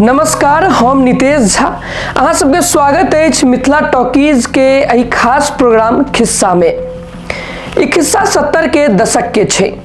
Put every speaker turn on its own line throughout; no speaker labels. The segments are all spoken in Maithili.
नमस्कार हम नितेश झा अहाँ सबके स्वागत अछि मिथिला टॉकीज के एहि खास प्रोग्राम खिस्सा में ई खिस्सा सत्तर के दशक के छै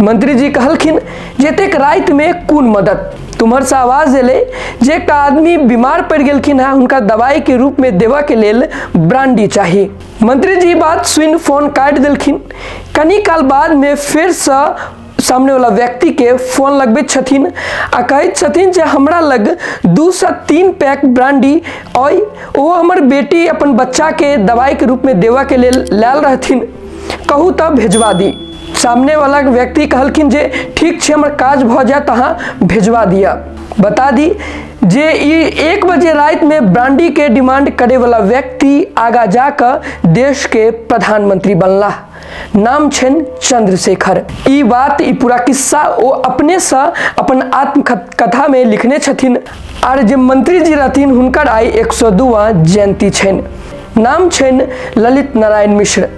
मंत्री जी कहलखिन जतेक राति में कोन मदद तुम्हर से आवाज एले जे का आदमी बीमार पड़ गेलखिन है उनका दवाई के रूप में देवा के लेल ब्रांडी चाही मंत्री जी बात सुन फोन काट देलखिन कनी काल बाद में फिर से सामने वाला व्यक्ति के फोन लगबे छथिन आ कहैत छथिन जे हमरा लग दू से तीन पैक ब्रांडी अइ ओ हमर बेटी अपन बच्चा के दवाई के रूप में देवा के लेल लायल रहथिन कहू तब भेजवा दी सामने वाला व्यक्ति कहलखिन जे ठीक छै हमर काज भऽ जायत अहाँ भेजवा दिअ बता दी जे ई एक बजे राति में ब्रांडी के डिमांड करे वाला व्यक्ति आगा जाकर देश के प्रधानमंत्री बनला नाम छन चंद्रशेखर ई बात ई पूरा किस्सा ओ अपने से अपन आत्मकथा में लिखने छथिन आर जे मंत्री जी रहथिन हुनकर आई एक सौ दुआ जयंती छन नाम छन ललित नारायण मिश्र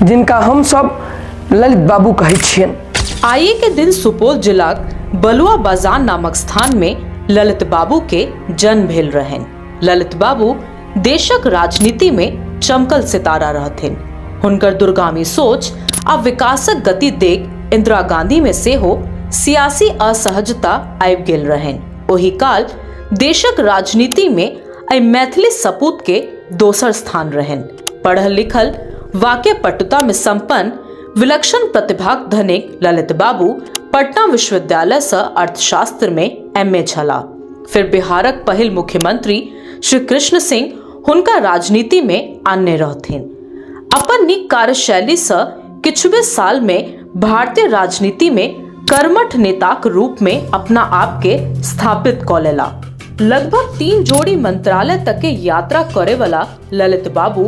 जिनका हमसभ ललित बाबू कहै छियनि आइए के दिन
सुपौल जिलाक बलुआ बाजार नामक स्थान में ललित बाबू के जन्म भेल रहन ललित बाबू देशक राजनीति में चमकल सितारा रहथिन हुनकर दूरगामी सोच आ विकासक गति देख इंदिरा गांधी में से हो सियासी असहजता आबि गेल रहन ओही काल देशक राजनीति में एहि मैथिली सपूत के दोसर स्थान रहन पढ़ल लिखल वाक्य पटुता में संपन्न विलक्षण प्रतिभाक धने ललित बाबू पटना विश्वविद्यालय से अर्थशास्त्र में एम ए छला फिर बिहारक पहिल मुख्यमंत्री श्री कृष्ण सिंह हुनका राजनीति में आनने रहथिन अपन नीक कार्यशैली से किछुबे साल में भारतीय राजनीति में कर्मठ नेताक रूप में अपना आप के स्थापित क लेला लगभग तीन जोड़ी मंत्रालय तक के यात्रा करे वाला ललित बाबू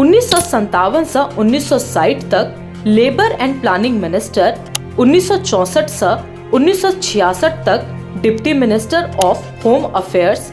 उन्नीस सौ संतावन से उन्नीस सौ साठ तक लेबर एंड प्लानिंग मिनिस्टर उन्नीस सौ चौसठ से उन्नीस सौ छियासठ तक deputy minister of home affairs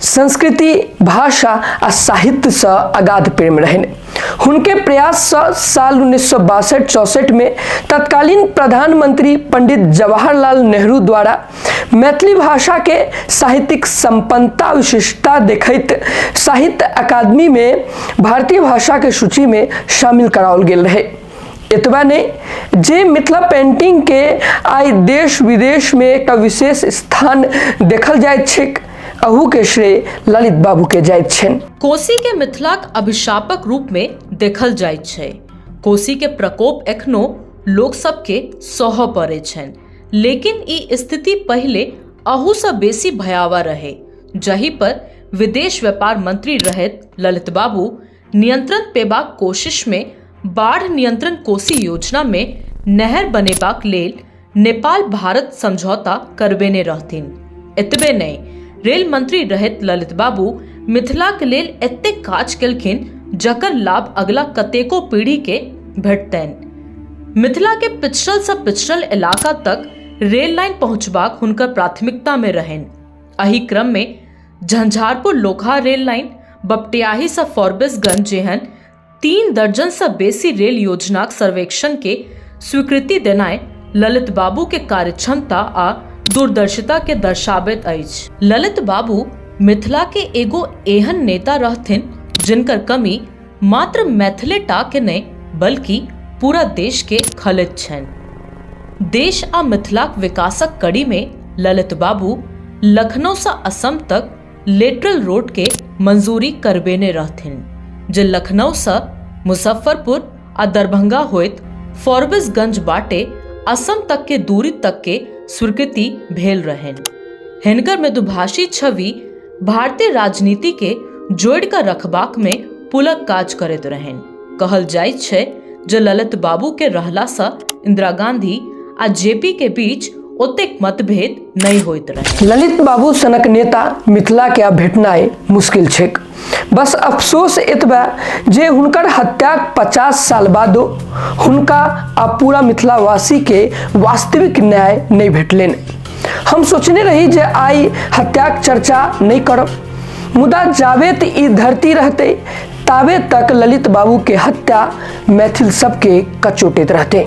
संस्कृति भाषा आ साहित्य से अगाध प्रेम रहन हुनके प्रयास से साल उन्नीस सौ बासठ चौसठ में तत्कालीन प्रधानमंत्री पंडित जवाहरलाल नेहरू द्वारा मैथिली भाषा के साहित्यिक संपन्नता विशिष्टता देखत साहित्य अकादमी में भारतीय भाषा के सूची में शामिल कराओल गेल रहे एतबा नहीं जे मिथिला पेंटिंग के आइ देश विदेश में एक विशेष स्थान देखल जाय छिक अहू के श्रेय ललित बाबू के जाइत छनि कोसी के मिथिलाक
अभिशापक रूप में देखल जाइत छै कोसी के प्रकोप एखनो लोक सबके सहऽ पड़ै छनि लेकिन ई स्थिति पहिले अहूसँ बेसी भयावह रहै जहि पर विदेश व्यापार मंत्री रहैत ललित बाबू नियंत्रण पेबाक कोशिश मे बाढ़ नियंत्रण कोसी योजना मे नहर बनेबाक लेल नेपाल भारत समझौता करबेने रहथिन। एतबे नहि, रेल मंत्री रहैत ललित बाबू मिथिलाक लेल एतेक काज केलखिन जकर लाभ अगिला कतेको पीढ़ी के भेटतनि। मिथिला के पिछड़ल सँ पिछड़ल इलाका तक रेल लाइन पहुंचबाक हुनकर प्राथमिकता मे रहनि। अहि क्रम मे झंझारपुर लोकहा रेल लाइन बपटियाहीसँ फॉरबिसगंज जेहन तीन दर्जनसँ बेसी रेल योजनाक सर्वेक्षणके स्वीकृति देनाइ ललित बाबूके कार्यक्षमता आ दूरदर्शिताके दर्शाबैत अछि ललित बाबू मिथिलाके एगो एहन नेता रहथिन जिनकर कमी मात्र मैथिले टा के नहि बल्कि पूरा देश के खलैत छनि देश आ मिथिलाक विकासक कड़ी में ललित बाबू लखनऊ से असम तक लेटरल रोड के मंजूरी करबेने रहथिन जे लखनऊ से मुजफ्फरपुर आ दरभंगा होइत फॉरबिसगंज बाटे असम तक के दूरी तक के स्वीकृति भेल रहनि हिनकर मृदुभाषी छवि भारतीय राजनीति के जोड़ कर रखबाक में पुलक काज करैत रहन कहल जाय छै जे ललित बाबू के रहला से इंदिरा गांधी आ जेपी के बीच ओतेक मतभेद नहीं होइत रहे ललित बाबू सनक
नेता मिथिला के आब भेटनाइ मुश्किल छैक बस अफसोस एतबे जे हुनकर हत्याक पचास साल बादो हुनका आ पूरा मिथिलावासी के वास्तविक न्याय नहि भेटलनि हम सोचने रही जे आइ हत्याक चर्चा नहि करब मुदा जावेत ई धरती रहते तावे तक ललित बाबू के हत्या मैथिल सबके कचोटित रहते